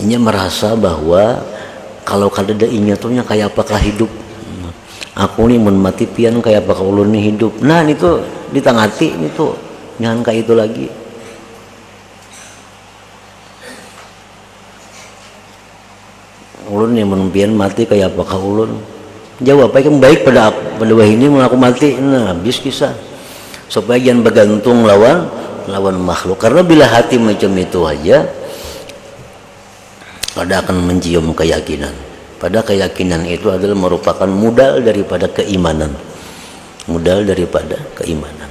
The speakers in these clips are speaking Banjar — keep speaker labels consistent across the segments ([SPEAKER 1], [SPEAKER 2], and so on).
[SPEAKER 1] Inya marasa bahwa kalau kadada inya tu nya kaya apa kah hidup. Aku ni mun mati pian kaya apa kah ulun ni hidup. Nah nitu ditangati nitu jangan kaya itu lagi. Ulun ni mun pian mati kaya apa kah ulun. Jawab ai kam baik pada aku, pada wahini mun aku mati, nah habis kisah. Supaya jangan bagantung lawan lawan makhluk. Karena bila hati macam itu haja, kada akan mancium kayakinan. Pada kayakinan itu adalah marupakan mudal daripada keimanan. Mudal daripada keimanan.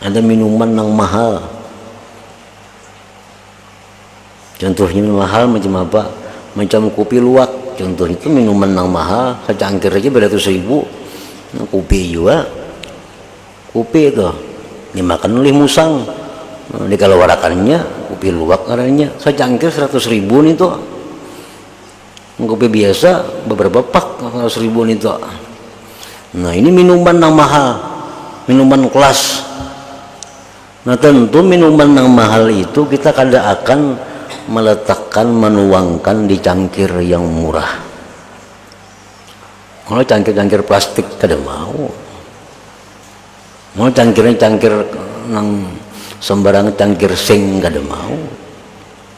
[SPEAKER 1] Ada minuman nang mahal. Contohnya minuman mahal macam apa? Macam kopi luwak. Contoh itu minuman nang mahal, secangkir aja beratus ribu. Nah, kopi juga. Kopi itu dimakan oleh musang. Nah, dikeluarakannya kopi luwak ngarannya. Secangkir seratus ribu nih tuh. Kopi biasa beberapa pak seratus ribu nitu. Nah ini minuman nang mahal, minuman kelas. Nah tentu minuman nang mahal itu kita kada akan meletakkan menuangkan di cangkir yang murah. Kalau cangkir-cangkir plastik kada mau. Mau cangkirnya cangkir nang sembarang cangkir sing kada mau.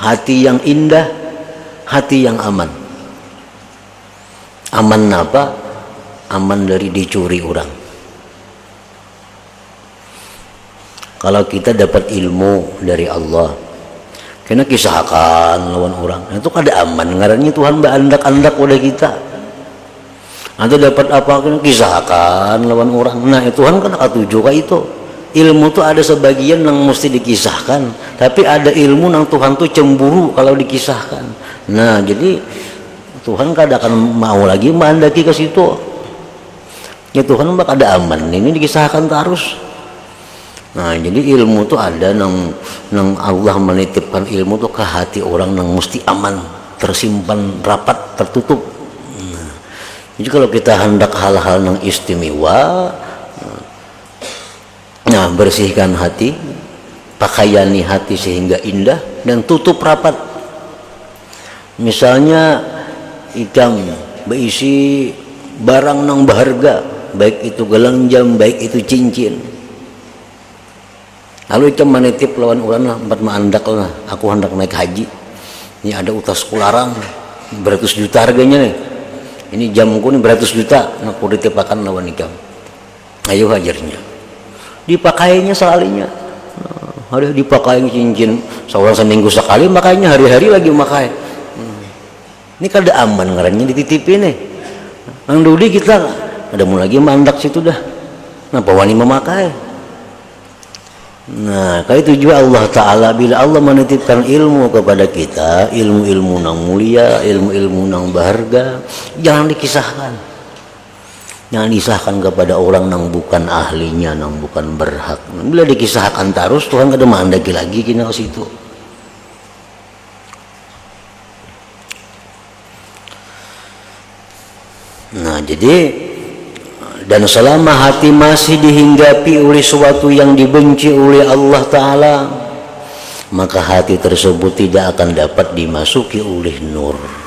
[SPEAKER 1] Hati yang indah, hati yang aman. Aman napa? Aman dari dicuri orang. Kalau kita dapat ilmu dari Allah, kena kisahkan lawan orang. Itu kada aman ngarannya Tuhan baandak-andak wadah kita. Nanti dapat apa kena kisahkan lawan orang. Nah itu kan kena katuju kah itu. Ilmu tu ada sebagian yang mesti dikisahkan. Tapi ada ilmu yang Tuhan tu cemburu kalau dikisahkan. Nah jadi Tuhan kada akan mau lagi mengandaki ke situ. Ya Tuhan mah kada aman ini dikisahkan tarus. Nah, jadi ilmu tu ada nang nang Allah menitipkan ilmu tu ke hati orang nang mesti aman, tersimpan rapat, tertutup. Nah, jadi kalau kita hendak hal-hal nang istimewa, nah bersihkan hati, pakaiani hati sehingga indah dan tutup rapat. Misalnya ikam baisi barang nang baharga, baik itu galang jam, baik itu cincin. Lalu ikam manitip lawan urang lah, umpat maandak lah, aku handak naik haji, ni ada utasku larang, baratus juta harganya nih, ini jamku nih baratus juta, nah kutitipakan lawan ikam. Ayu hajarnya dipakainya salinya hari dipakai cincin seorang seminggu sekali makainya hari-hari lagi makai hmm. ini kada aman ngarannya dititipi nih nang dudi kita ada mau lagi mandak situ dah napa wani memakai nah kali itu juga Allah Ta'ala bila Allah menitipkan ilmu kepada kita ilmu-ilmu nang mulia ilmu-ilmu nang berharga jangan dikisahkan Jangan disahkan kepada orang nang bukan ahlinya, nang bukan berhak. Bila dikisahkan terus, Tuhan kada mengandaki lagi kena ke situ. Nah, jadi dan selama hati masih dihinggapi oleh suatu yang dibenci oleh Allah Ta'ala, maka hati tersebut tidak akan dapat dimasuki oleh nur.